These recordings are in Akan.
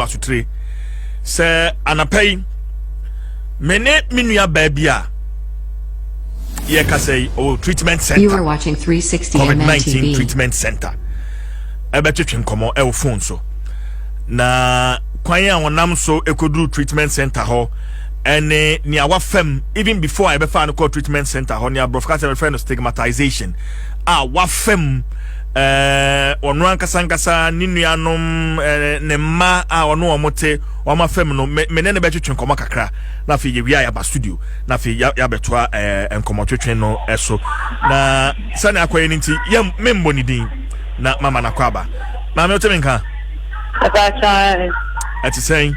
asotire sɛ anapa yi me ne me nua baa bi a yɛkasa yi ɔwɔ treatment center covid-19 treatment center ɛbɛtwetwe nkɔmmɔ ɛwɔ phone so na kwan a wɔnam so ɛkɔduru treatment center hɔ ɛne nea wafam even before a yɛbɛfaa no kɔɔ treatment center hɔ, nea aborɔfo kasa bɛfrɛ no stigmatization a wafam ɛɛ ɔno ankasa ankasa ne nuanom ɛɛ ne mma a ɔno wɔn te wɔn afam no me ne no bɛtwetwe nkɔmɔ kakra na afei yɛwia yɛaba studio na afei yɛabɛtoa ɛɛ nkɔmɔtwetwe no ɛso na sɛnea akɔyɛ no nti yɛ mmemmɔ ne din na mama no akɔ aba maame wote me nka ɛte sɛn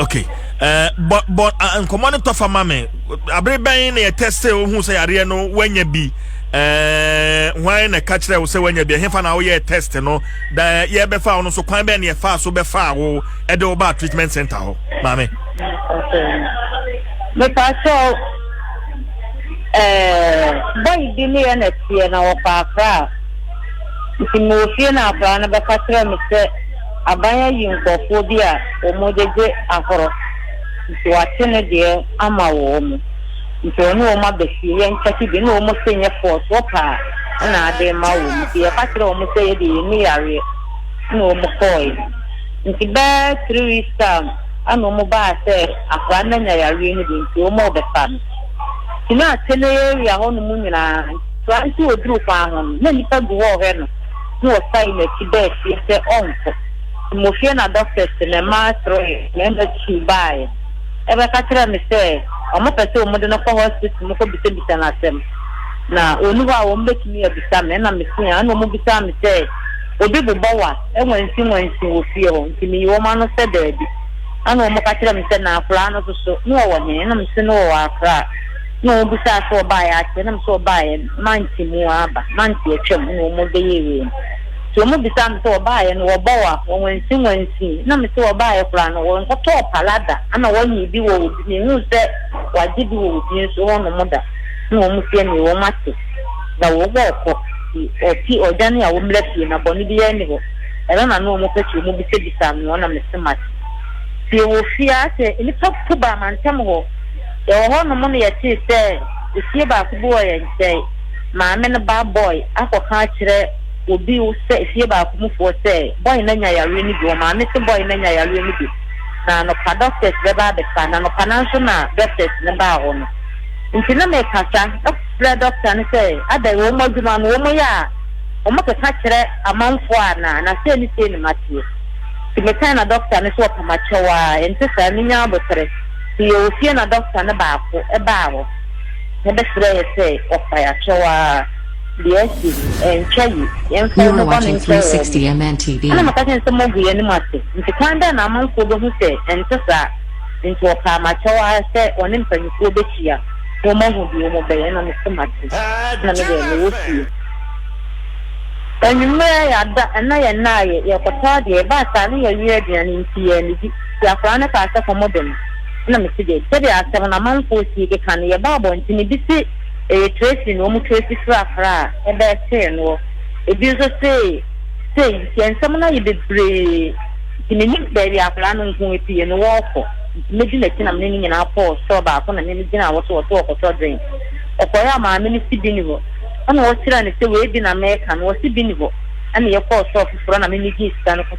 okay ɛɛ bɔ bɔ nkɔmɔ no tɔfa ma mi abere bɛn na yɛ tɛsite ohun sɛ yareɛ no wanya bi ɛɛ hwan na ɛka kyerɛ wo sɛ wanya bi ɛhefa na woyɛ test no da yɛbɛfa wo no so kwan bɛn na yɛfa so bɛfa wo ɛde wo ba treatment center hɔ maame. mepa sɛ ɛɛ bɔyi bi ne yɛ na teɛ na wɔfa akora a nti mo ofie na akora no bɛka kyerɛ me sɛ. Aban ayi nkorɔfoɔ bi a wɔn gyegye ahorɔ, nti wate ne deɛ ama wɔn, nti ɔne wɔn aba fie, yɛn kyɛke bi, ɛna wɔn se nyɛ force, wɔpɛ a ɛna ade ma wɔn, nti yɛka kyerɛɛ wɔn sɛ yɛ deɛ yɛnni yareɛ, ɛna wɔn kɔɔɛ, nti bɛɛ three weeks time ɛna wɔn baa sɛ akwadaa no anya yareɛ no bi, nti wɔn rebɛfa no, nti na akyɛ no area hɔ nom nyinaa, nti koraa nso wɔduru kwan ho no na nnipa gu hɔ rehwɛ no. na wɔsan n'akyi baa fie sɛ ɔnkɔ. Mmofie na dɔktɛs ne mmaa kyerɛɛ mmarima tuu baeɛ bɛka kyerɛɛ me sɛ wɔpɛ sɛ wɔde no kɔ hospital mu kɔbisabisa no asɛm. Na ɔnni hɔ a wɔbɛtumi abisa me. Ɛnna mesui a ɛnna wɔbisaa me sɛ, Obi bobɔ wo a, nwansinwansin wɔ fie hɔ? Nti meyii wɔn ano sɛ daabi. Ɛnna wɔka kyerɛɛ me sɛ, Na akwadaa no nso so, na ɔwɔ he? Ɛnna mese, Na ɔwɔ Accra. na wɔn bisaa sɛ ɔbaeɛ ase ɛna me sɛ ɔbaeɛ mante mu aba mante atwam ɛna wɔn bɛyɛ wei no nti wɔn bisaa me sɛ ɔbaeɛ no wɔbɔ wa wɔnwansi wansi na me sɛ ɔbaeɛ koraa no wɔnkɔtɔɔ pala da ɛna wɔnye bi wɔ obi me hu sɛ wɔagye bi wɔ obi nso hɔ nom da na wɔn fie ne wɔn ate na wɔn wɔ ɔkɔ ti ɔti ɔdwane a wɔn mla fie na bɔne bi yɛ ne hɔ ɛna na na wɔn pɛkyɛ wɔn bisa bisa me wɔn na me se mate fie wɔ fie asɛ nipa kuba mantam hɔ. Yɛwɔ hɔnom no yɛtee sɛ efie baako bi wɔ yɛn nkyɛn. Maame no ba Boy akɔka akyerɛ obi sɛ efie baako mufoɔ sɛ Boy no anya yareɛ no bi. Wɔn maame se Boy no anya yareɛ no bi na anɔpa doctors bɛba abɛsa no. Anɔpa no ara nso na doctors no baa hɔ no nti na mekasa frɛ doctor no sɛ adɛn wɔn adwuma no wɔn yɛ a wɔn keka kyerɛ amanfoɔ anaa na sei ne sei na mateɛ nti mekae na doctor no se ɔpamakyɛw aa ɛnte saa menyaa aboterɛ. So yɛwɔ fie na dɔkta no baako baa hɔ na bɛsrɛɛ yɛ sɛ wɔfa yɛ akyerɛ hɔ ara? Deɛ asi no, ɛntwa yi, yɛmfa yɛ ho bɔne nkyɛ wɔn. Ɛna meka kyerɛɛ no sɛ moagu yɛ anim ase, nti kwan bɛn na amanfoɔ bɛhu sɛ ɛnte saa? Nti wɔpaa m'akyɛw ara sɛ wɔne mpanyimfoɔ bɛhyia na wɔahu deɛ wɔbɛyɛ. Ɛna mese mate, ɛna me deɛ mewɔ fie. Anwummerɛ yɛada, ɛna yɛnnaeɛ, yɛkɔtɔɔ adeɛ, ɛbaa saa na yɛawie aduane nti yɛannidi. Si akwadaa no kaa sɛ, Kɔ mo dɛm. Ɛna me si dɛbi. Sɛdeɛ asɛm no amanfoɔ sii keka no, yɛbaa abɔnten no, ebi se ɛyɛ Tracy na wɔn Tracy frafra a ɛbɛɛ tee noɔ. Ebi nso se sei nti. Yɛn nsɛm no ayɛ bebree nti me nim baabi akwadaa no nko apue no wɔɔkɔ nti mɛdi nakyi na me ne no nyinaa kɔɔ store baako na me ne gyinaa hɔ so ɔse ɔkɔtɔ drink. Ɔkɔeɛ a maame no se bi ni hɔ ɛna ɔkyerɛɛ no sɛ wei bi na meeka no ɔse bi ni hɔ ɛna yɛkɔɔ store foforɔ na me me gyee sika no kɔɔ.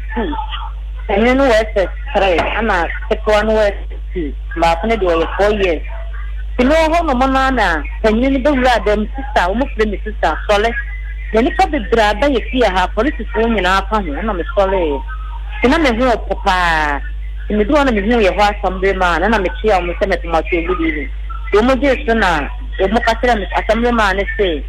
two, panyin no wɔ SS three ɛna ketewa no wɔ SS two, baako no deɛ ɔyɛ four years. Nti mewɔ hɔ nom no ara na panyin no bɛwuraa dan mu, sista, wɔfrɛ me sista, sɔre. Na nnipa bebree abɛyɛ fie ha, apolisifoɔ nyinaa ka ho, ɛna mesɔreeɛ. Nti na me ho repo pa ara. Nti meduu hɔ na mehuu yɛhɔ asɛmbre maa no na mekyeaa wɔn sɛ mɛpoma so, good evening. Nti wɔgyee so na wɔka kyerɛɛ me, asɛmbre maa no se,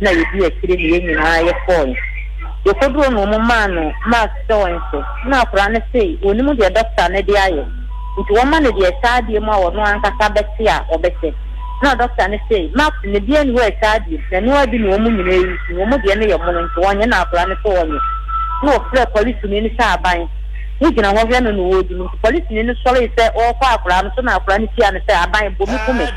na yedii akyire ne yɛn nyinaa yɛkɔɔe. Yɛkɔduruu no wɔmaa no mask sɛ ɔnhyɛ, na akwadaa no se ɔnnim deɛ dɔkta no de ayɛ nti wɔma no deɛ ɛhyɛ adeɛ mu a ɔno ankasa bɛte a ɔbɛhyɛ. Na dɔkta no se mask no biara nni hɔ a ɛhyɛ adeɛ mu, na ɛno ara bi ne wɔn nyinaa resu, wɔn deɛ no yɛ mono nti wɔnyɛ na akwadaa no se ɔnyɛ. Na ɔfrɛɛ polisini no sɛ aban no gyina hɔ hwɛ no na wɔredi no nti polisini no sɔree sɛ ɔrekɔ akwadaa no so na akwadaa no tiaa no sɛ aban bɔ me ku me.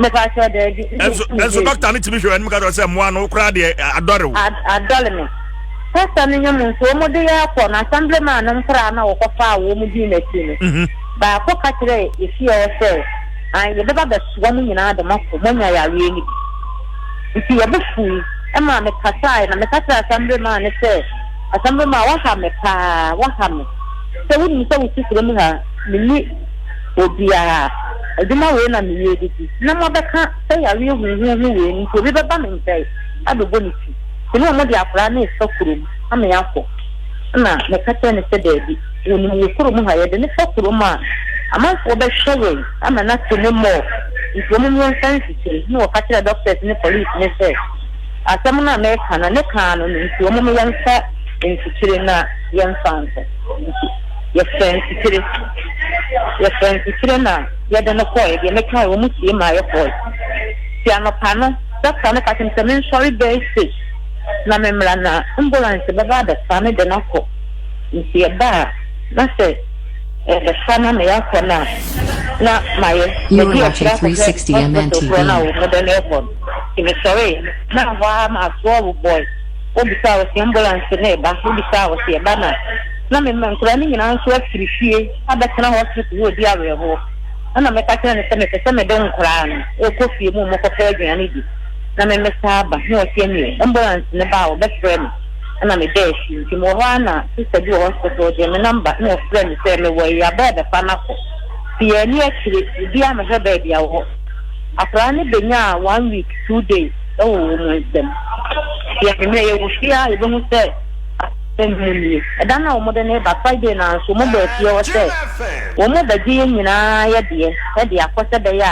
mepakyɛ daabi ɛnso ɛnso dɔkta no tumi hwɛ w'anim ka kyerɛ sɛ mmoa no koraa deɛ adɔre wo adɔre me pasta no nyɛ mu nso wɔn de yɛ akɔ na assembly man no nkora na wɔkɔfa a wɔn di n'akyi no mhm. baako ka kyerɛ efie hɔ sɛ an yɛbɛba bɛsoa mu nyinaa de mɔkɔ moanya yareɛ no bi nti wɔbo fui ɛma mekasae na meka kyerɛ assembly man no sɛ assembly man waha me paa waha me sɛ wonim sɛ wo sisire mu ha menni obiara, adwuma wei na meyɛ de di, na moabɛka sɛ yareɛ huhuuhu wei nti obi bɛba me nkyɛn abɛbɔ ne ti, nti na wɔde akwadaa no refa kurom ama yɛakɔ. Ɛna meka kyerɛɛ no sɛ daabi, wɔnim wɔ kurom ha, yɛde no fa kurom a, amanfoɔ bɛhwɛ yɛn ama no ate ne morgue, nti wɔn mmɔ mfa nkyekyere. Ɛna wɔka kyerɛɛ doctors ne police no sɛ asɛm no a meka no, ne kaa no no, nti wɔn meyɛ mfa nkyekyere na yɛmfa nkɔ. Yɛfrɛɛ Nsutire. Yɛfrɛɛ Nsutire na yɛde no kɔɔɛ, deɛ mekaɛ wɔn sie maa yɛkɔɔɛ. Nti anɔpa no dɔkta no ka kyerɛɛ me sɛ mensɔre bɛɛ six na memmra na ambulanse bɛba abɛfa me de no akɔ. Nti yɛbaa na sɛ yɛbɛfa no ama yɛakɔ no a na mayɛ madi akyire akɔhwɛ hospital foɔ no a wɔn de no rekɔ no. Nti mesɔree na hɔ ara masoɔ wobɔɔe, wobisaa wɔ se ambulanse no reba, wobisaa wɔ se yɛba na. na mema nkwadaa no nyinaa nso afiri fie abɛtena hospital hɔ redi awerɛhoɔ, ɛna meka kyerɛ no sɛ mepɛ sɛ mede nkwadaa no rekɔ fie mu mmɛkɔpɛ aduane di na memmɛsan aba, na ɔse ɛneɛ ambulance no ba a wɔbɛfrɛ me, ɛna meda akyi, nti mewɔ hɔ ara na sister bi wɔ hospital ɔgyee me number na ɔfrɛɛ me sɛ mewɔ Awuraba rebɛfa no akɔ, nti yɛanni akyire, obiara mmɛhwɛ baabi a ɔwɔ. Akwadaa no bɛnyaa one week, two days wɔ wɔn nsam, nti anwummerɛ yɛwɔ fie a yɛbɛhu sɛ. Mmom nie, ɛda no a wɔde no reba, Friday no ara nso, wɔbɔɔ atia hɔ sɛ, Wɔbɛgye yɛn nyinaa yɛ deɛ de akɔ sɛ ɛbɛyɛ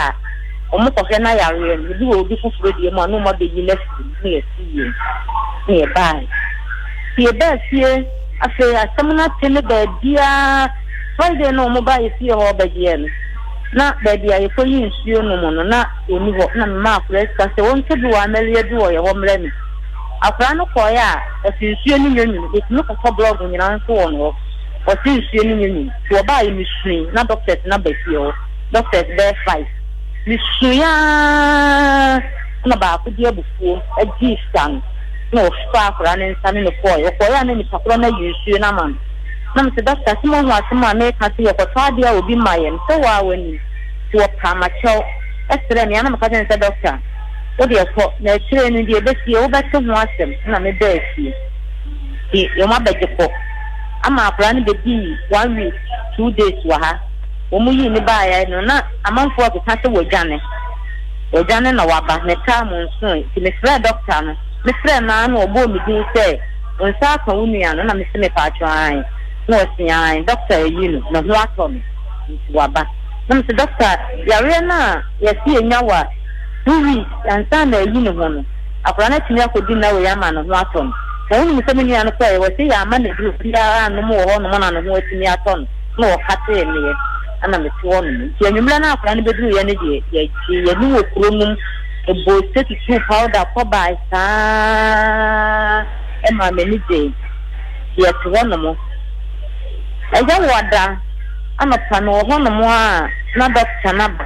a wɔkɔhwɛ n'ayareɛ no, ebi wɔ obi foforɔ deɛ mu a, na wɔabɛyi no afiri mu, na yɛte yei. Na yɛbaeɛ. Nti yɛbaa fie, afei asɛm no ate ne baabiara, Friday no a wɔbaa yɛn fie hɔ bɛgyeɛ no, na baabi a yɛkɔyi nsuo nom no, na wɔnni hɔ, na memaa akoraa sika sɛ wɔnkɔdu wɔ Amelia bi wɔ yɛn hɔ mmrɛ me. Akwadaa no kɔeɛ a, ɔse nsuo no nyɛ nwunu, bɛtumi kɔtɔ blɔɔgo nyinaa nso wɔ hɔ, ɔse nsuo no nyɛ nwunu. Nti wɔbaeɛ mesuui, na doctors no aba fie hɔ, doctors bɛyɛ five. Mesuui ara na baako de abufuo gyee sika no, na ɔfaa akwadaa no nsa ne no kɔeɛ. Ɔkɔeɛ a na nipa korɔ no ayi nsuo no ama no. Na mese doctor se moahu asɛm a meka se yɛkɔtɔ adeɛ a obi ma yɛn? Mese wo ara woanim. Nti wɔpaa m'akyɛw srɛɛ me a na meka kyerɛ no sɛ doctor, Wo deɛ kɔ, na akyire no deɛ ɛbɛsie, wobɛte ho asɛm. Ɛnna mebaa fie. Nti wɔabɛgye kɔ. Ama akwadaa no bɛdii one week, two days wɔ ha. Wɔyii no baeɛ no, na amanfoɔ rekeka sɛ wadwane. Wadwane na waba. Metaa mo nsoe. Nti mefrɛɛ dɔkta no. Mefrɛɛ no ara na ɔbɔɔ me din sɛ, Wo nsa aka wo nua no? Na mese, Mepaakyɛw, aane. Na ɔse, Aane, dɔkta ayi no. Ne ho atɔ no. Nti waba. Na mese, Dɔkta, yareɛ no a yɛse yɛnya wɔ. Wo wi, ansa na ayi ne ho no, akwadaa no atumi akɔdi nna wei ama ne ho atɔ no. Na wonim sɛ me nua no kɔeɛ, wɔse yɛamma no aduro biara annom wɔ hɔnom na ne ho atumi atɔ no, na wɔkatee meɛ na mete hɔnom. Nti anwummerɛ no a akwadaa no bɛduruiɛ no deɛ, yɛgyee yɛn wɔ kuro no mu, bɔɔ ose tutuu powder kɔbae saa maa m'ani gyee. Nti yɛte hɔnom. Ɛyɛ wɔ da anɔpa no wɔ hɔnom a na dɔkta no aba.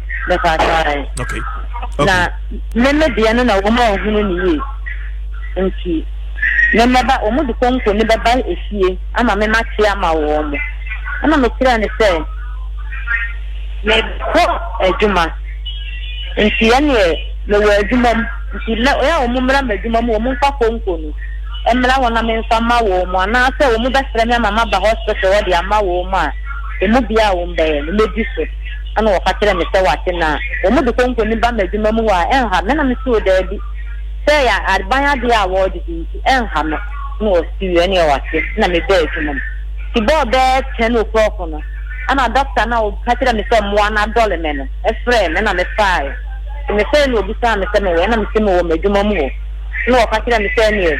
mɛfa asae na me me deɛ no na wɔn a ɔhunu ne yie nti me mɛba wɔn de konko ne bɛba efie ama me ma te ama wɔn mo ɛna me kyerɛ ne sɛ me kɔ adwuma nti ɛneɛ me wɔ adwuma mu nti lɛ ɔyɛ a wɔn mmra ma adwuma mu wɔn nfa konko no mmra hɔ na me nfa ma wɔn mo anaasɛ wɔn bɛsrɛ me ama ma ba hospital hɔ de ama wɔn mo a emu bia wɔn bɛyɛ no mɛdi so. Ɛnna ɔka kyerɛɛ me sɛ, Wate nna a wɔde konko no ba m'adwuma mu hɔ a, ɛnha me. Ɛnna mesoo daabi. Sɛ ɛyɛ aban adeɛ a wɔde di nti, ɛnha me. Ɛnna ɔsee, Ɛnneɛ wate. Ɛnna mebaa adwuma mu. Nti bɛɔ bɛɛ ten o'clock no, ɛnna dɔkta no a ɔka kyerɛɛ me sɛ mmoa no adɔle me no frɛɛ me, ɛnna mefaaeɛ. Nti mefrɛɛ no na ɔbisaa me sɛ mewɔ he. Ɛnna mese mewɔ m'adwuma mu hɔ. Ɛnna ɔka kyerɛɛ me sɛ, Ɛnneɛ.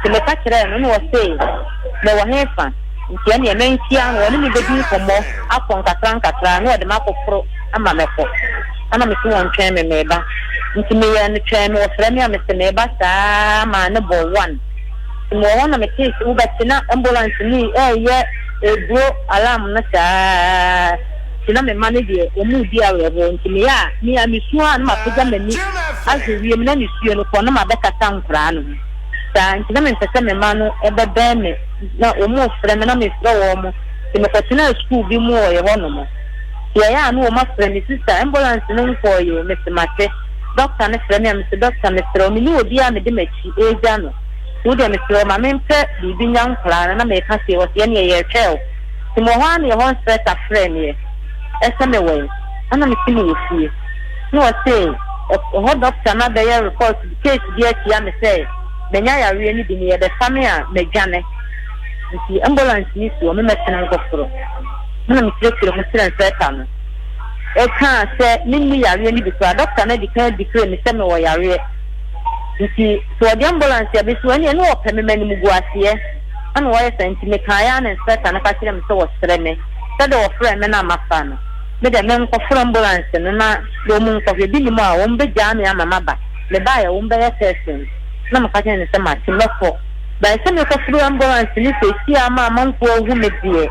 Nti meka kyerɛɛ no na ɔsee, Mewɔ hefa? Nti ɛneɛ menhyia no, ɔne me bɛdi nkɔmmɔ akɔ nkakrankakra na ɔde me akɔforo ama mɛkɔ. Ɛna mese wɔn twɛn me, meba. Nti meyɛɛ no twɛn me, ɔfrɛ me a mese meba saa ara maa ne bɔ one. Nti mewɔ hɔ na metee sɛ wobɛte na ambulance no reyɛ ɛduro alarm no saa. nti na me mma no deɛ wɔredi awerɛhoɔ nti meyɛ a me a mesuo a na mapagya m'ani ahwɛ wiem na nisuo no kɔ na mabɛkata nkwadaa no ho saa nti na mempɛ sɛ me mma no bɛbɛn me na wɔrefrɛ me na mefrɛ wɔn nti mekɔtenaa sukuu bi mu wɔ yɛhɔ nom nti ɛyɛ a na wɔn afrɛ me sista ambulance no nkɔɔeɛ o mese mate dɔkta no frɛ me a mese dɔkta mesrɛ wo mene obi a mede m'akyi ɛregya no nti wodeɛ mesrɛ wo ma mempɛ biribi nya nkwadaa no na meka sei wɔ sɛ yɛneɛ yɛretwɛn wo Tim wɔ hɔ ara na yɛhɔ nserɛta frɛɛ me ɛ, ɛsɛ me wɛn, ɛna me se me wɔ fie. Na ɔse ɔ, hɔ dɔkta no abɛyɛ report bi, case bi atia me sɛ manya yareɛ no bi na yɛbɛfa me a madwane. Nti ambulance no si hɔ, me mɛtena nkɔforo. Ɛna me kyerɛkyerɛ mu kyerɛ nserɛta no, ɛkaa sɛ menni yareɛ no bi koraa, dɔkta no adikan adeclare me sɛ mewɔ yareɛ. Nti sɛ ɔde ambulance abesi hɔ ɛneɛ na ɔpɛ me m'animguaseɛ. Ɛna wɔyɛ saa nti mekaeɛ a na inspector no ka kyerɛɛ me sɛ wɔsrɛ me sɛ deɛ wɔfrɛɛ me no a mafa no me deɛ menkɔfrɛ ambulance no na wɔn nkɔhwɛ bi nnim a wɔn bɛgyaa me ama maba mebaeɛ a wɔn bɛyɛ test no na meka kyerɛɛ no sɛ mate mɛkɔ bae sɛ mekɔfrɛ ambulance no seesei a ama amanfoɔ ahu me deɛ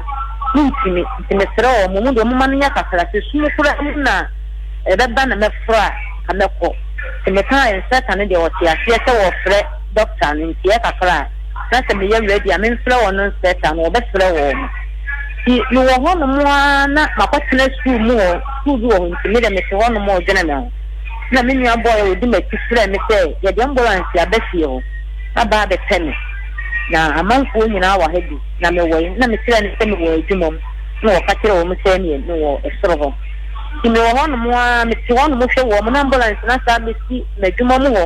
mentumi nti mesrɛ wɔn wɔn deɛ momma menyɛ kakra sɛ sum koraa mu na ɛbɛba na mɛfrɛ a nka mɛkɔ nti mekaeɛ inspector no deɛ ɔte aseɛ sɛ wɔfrɛ doctor no nti ɛyɛ kakra a na sɛ meyɛ ready a memfrɛ wɔn nsrɛt a, na wɔbɛfrɛ wɔn. Nti mewɔ hɔnom ara na makɔtena sukuu mu hɔ, sukuu bi wɔ hɔ nti me deɛ mete hɔnom redwene me ho. Ɛna me nua boy a ɔdi m'akyi frɛɛ me sɛ, Yɛde ambulanse aba fie hɔ, aba abɛpɛ me, na amanfoɔ nyinaa wɔ ha bi, na mewɔ he? Na mekyerɛɛ no sɛ mewɔ adwuma mu, ɛna ɔka kyerɛɛ wɔn sɛ ɛneɛ mewɔ soro hɔ. Nti mewɔ hɔnom ara, mete hɔnom hwɛ wɔn na ambulanse no asan abɛsi m'adwuma mu hɔ.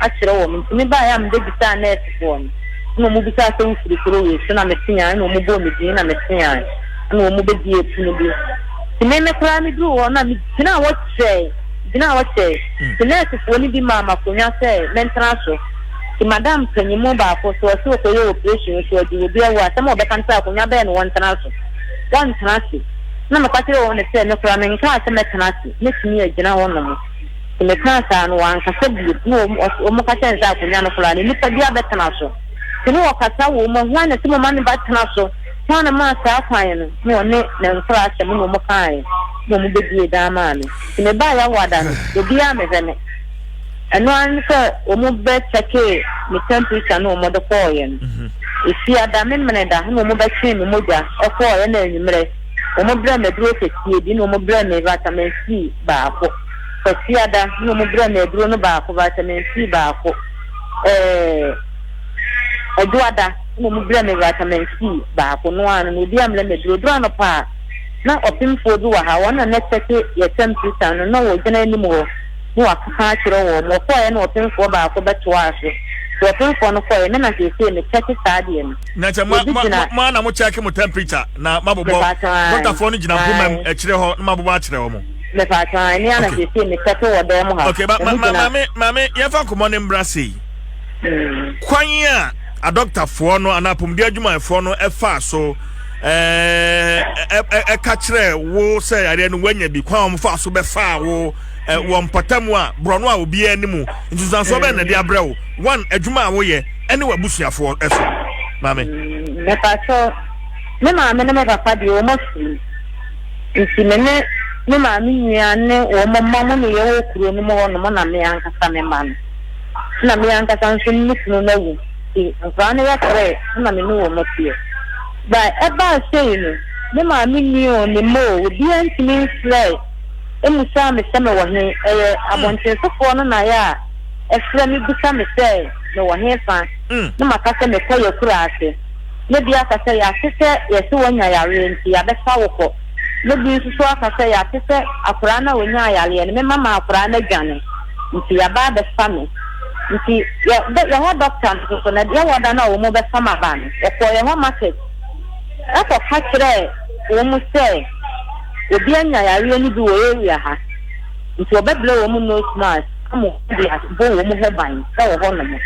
akyerɛ wɔn nti me baeɛ a mebɛbisaa nurse foɔ no na wɔn bisaa sɛ wofiri kuro wei so na me teaa na wɔn bɔɔ me din na me teaa na wɔn bɛdiee pono bi nti me me koraa me duru hɔ na me gyinaa hɔ kyerɛɛ gyinaa hɔ kyerɛɛ nti nurse foɔ no bi maa ma konwa sɛ mɛntena so nti madam panyin mu baako so ɔsɛ ɔkɔyɛ operation so ɔdi obi ɛwɔ asɛm a ɔbɛka no sɛ akonwa bɛyɛ na wɔntena so wɔntena ase na meka kyerɛ wɔn ne sɛ me koraa me nkaa sɛ mɛtena ase mɛtumi agyina hɔ nom So mekaa saa no, wankasa bio. Mmom, ɔs wɔka kyerɛɛ no sɛ, Akonnwa no koraa, ne nipadua bɛtena so. So ne ɔkasa wom? Hwan na ɛsɛ momma ne ba tena so? Hwan na ɔmaa saa kwan no? Ne ɔne ne nkoraasɛm no na wɔkaeɛ, na wɔbɛbue dan maa me. So mebaa Yawoada no, obiara ammɛhwɛ me. Ɛno ara ne sɛ wɔbɛkyɛkee me tɛmpirekya no wɔde kɔeɛ no. Efiada, Memeneda, na wɔbɛtwee me mogya kɔeɛ, ɛnna anwummerɛ, wɔbrɛɛ me aduro kɛseɛ bi, ɛnna wɔbrɛɛ me Vitamin C baako. Kwasiada na ɔmo brɛɛ me aduro no baako, vitamin C baako, ɛɛɛ Adwoada na ɔmo brɛɛ me vitamin C baako, no ara no na obiara mmrɛ me aduro. Ɛduru anɔpa a, na ɔpemfoɔ bi wɔ ha, wɔn na nɛkyɛke yɛ tɛmpirikya no, na na ɔgyina anim hɔ na wakeka akyerɛ wɔn. Ɔkɔɔɛ na ɔpemfoɔ baako bɛtoaa so, nti ɔpemfoɔ no kɔɔɛ, me na seesei mekyɛke saa deɛ no. Na kyɛ mo mo mo mo ara na mokyɛke mo tɛmpirikya na mabobɔ, Mepakyɛw, ae. dɔktafoɔ no gyina mpomam akyire hɔ na mabobɔ akyerɛ wɔn. Mepatwa ɛne ana okay. siesie me tɛte wɔ dan mu ha. Okay, ba, ma, ma, maame, maame, yɛfa nkɔmɔ ne mbra sei. Mm. Kwan a adɔktafoɔ no anaa apɔmuden adwumayɛfoɔ no ɛfa so ɛka kyerɛ wo sɛ yareɛ no woanya bi kwan a wɔfa so bɛfaa wo wɔ mpɔtam a borɔno a obiara anim nsunsuansoɔ bɛn na ɛde abrɛ wo one adwuma a woyɛ ɛne w'abusuafoɔ ɛso maame. mepatɔ me maame ne me papa deɛ wɔn afiri Enti me ne me maame nua ne wɔn mma mo ne yɛwɔ kuro no mu hɔnom na me ankasa me mma no na me ankasa nso me kunu no awu nti nkwadaa no yɛkɔrɛɛ na me ne wɔn teɛ. Ba ɛbaa sei no me maame nua o me mma o obiara ntumi mfrɛɛ mmusaa me sɛ me wɔ he ɛyɛ abɔntensofoɔ no na yɛ a ɛfrɛ me bisa me sɛ me wɔ he fa na maka sɛ me kɔ yɛ kuro ase. na bi aka sɛ yɛate sɛ yɛse wanya yareɛ nti yɛabɛfa wo kɔ, na bi nso so aka sɛ yɛate sɛ akoraa no a ɔnyaa yareɛ no, me mma maa akoraa no adwane nti yɛaba abɛfa me nti yɛhɔ doctor nso so na yɛwɔ da no a wɔn bɛfa m'aba no, wɔkɔɔ yɛhɔ market kɔka kyerɛɛ wɔn sɛ obi anya yareɛ no bi wɔ area ha nti wɔbɛbrɛ wɔn nose mask. Ammon de ade bɔ wɔn ho ban wɔ hɔnom.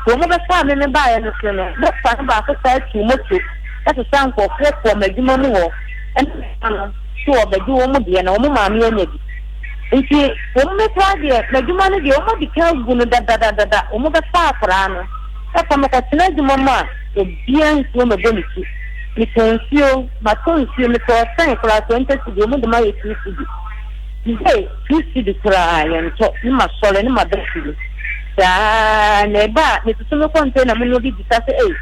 Kurom no bɛfaa me me baeɛ no so no, Yosua no baako taa tuu moto kɔsesaa nkurɔfoɔ kɔɔ m'adwuma mu hɔ ne me mma no sɛ wɔbɛgye wɔn deɛ na wɔn maame anya bi. Enti wɔn mmɛtaa deɛ m'adwuma no deɛ wɔadi kan agu no dadadadada, wɔbɛfa akwadaa no. Ɛfa mekɔtena adwuma mu a, obiara nsuro mɛbɔ ne ti. Metɔn nsuo, matɔ nsuo, metɔɔ sɛn koraa, 20 cedi, wɔde ma yɛ 2 cedi. Mpo two cedi koraa yɛntɔ ne masɔre ne maba fie saa na ɛba a metutu me kɔntɛna mu na obi bisa sɛ ei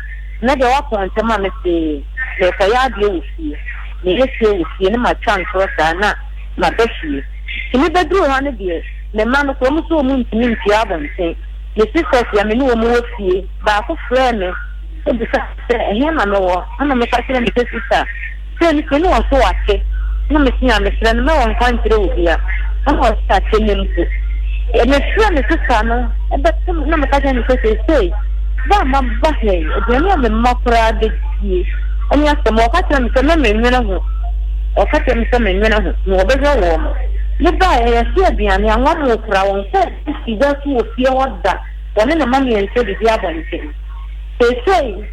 nnɛ deɛ woapɔn ntɛm a mese merekɔyɛ adeɛ wɔ fie meyɛ fie wɔ fie ne matwa ntorɔ saa na maba fie nti mebɛduru ha no deɛ me mma no koraa ɔmo se ɔmo ntumi ntua abɔnten me sisters a me ne ɔmo wɔ fie baako frɛɛ me kɔbisa me sɛ ɛhe na mewɔ ɛna meka kyerɛɛ no sɛ sister Sɛ mepɛ ne wɔn so wɔ ase na mete a mesrɛ no mɛ wɔn nkwa nkyerɛ obia na wɔn so ate nnɛ mpo mefrɛ me sista no bɛto na meka kyerɛ no sɛ seisei bɛ a maba ha yi aduane a me mma koraa bɛdie ɛne asɛm a ɔka kyerɛ me sɛ mɛ menwene ho ɔka kyerɛ me sɛ menwene ho na wɔbɛhwɛ wɔn mo ne ba a yɛse aduane a wɔn mo koraa wɔn sɛ si gya so wɔ fie hɔ da wɔne ne ma miɛnsa didi abɔnten seisei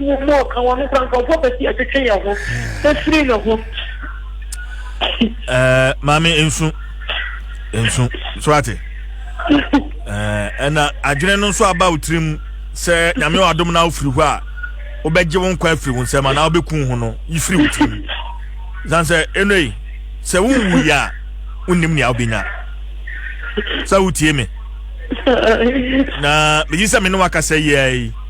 Wɔ mu ɔka wɔn kora nkurɔfoɔ pɛ sɛ yɛtwetwe yɛn ho firi ne ho. Eh, maame nsu nsu so ate ɛna eh, adwene no nso aba wo tirim sɛ nyame wɔ adom na wofiri hɔ a wobɛgye wo nkwa afiri wo nsɛm anaa wobɛku ho no yifiri wo tirim san sɛ ɛnoi sɛ wonwu yɛ a wonnim nea wobɛnya sɛ wotie me na megye sɛ me ne wakasa yiaa yi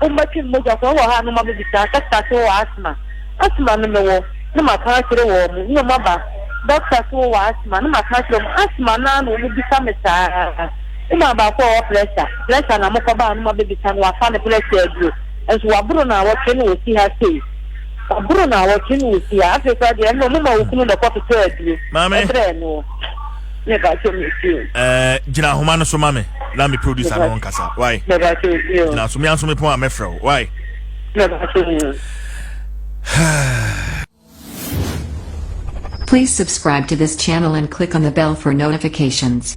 Wo mma twem mogya sɛ wowɔ ha a na wɔabɛbisa dɔkta sɛ wowɔ asthma. Asthma no mewɔ na maka akyerɛ wɔn. Me ne wɔn aba dɔkta sɛ wowɔ asthma na maka akyerɛ wɔn. Asthma no ara na wɔbisa me saa. Me maa baako a ɔwɔ pressure. Pressure na mekɔba a na wɔabɛbisa no wafa ne pressure aduro. Nso waboro nnawɔtwe na ɔsi ha sei. Waboro nnawɔtwe na ɔsi ha. Afei koraa deɛ ɛnnɛ wɔma wo kunu na ɛkɔtotɔ aduro brɛɛ noɔ. Me ba sɛ me fio. Ɛɛ eh, gyina ahoma no so ma me na me producer no nkasa. Why? Me ba sɛ fio. Gyina so me anso me pon a mɛfrɛ wo. Why? Me ba sɛ fio. Please subscribe to this channel and click on the bell for notifications.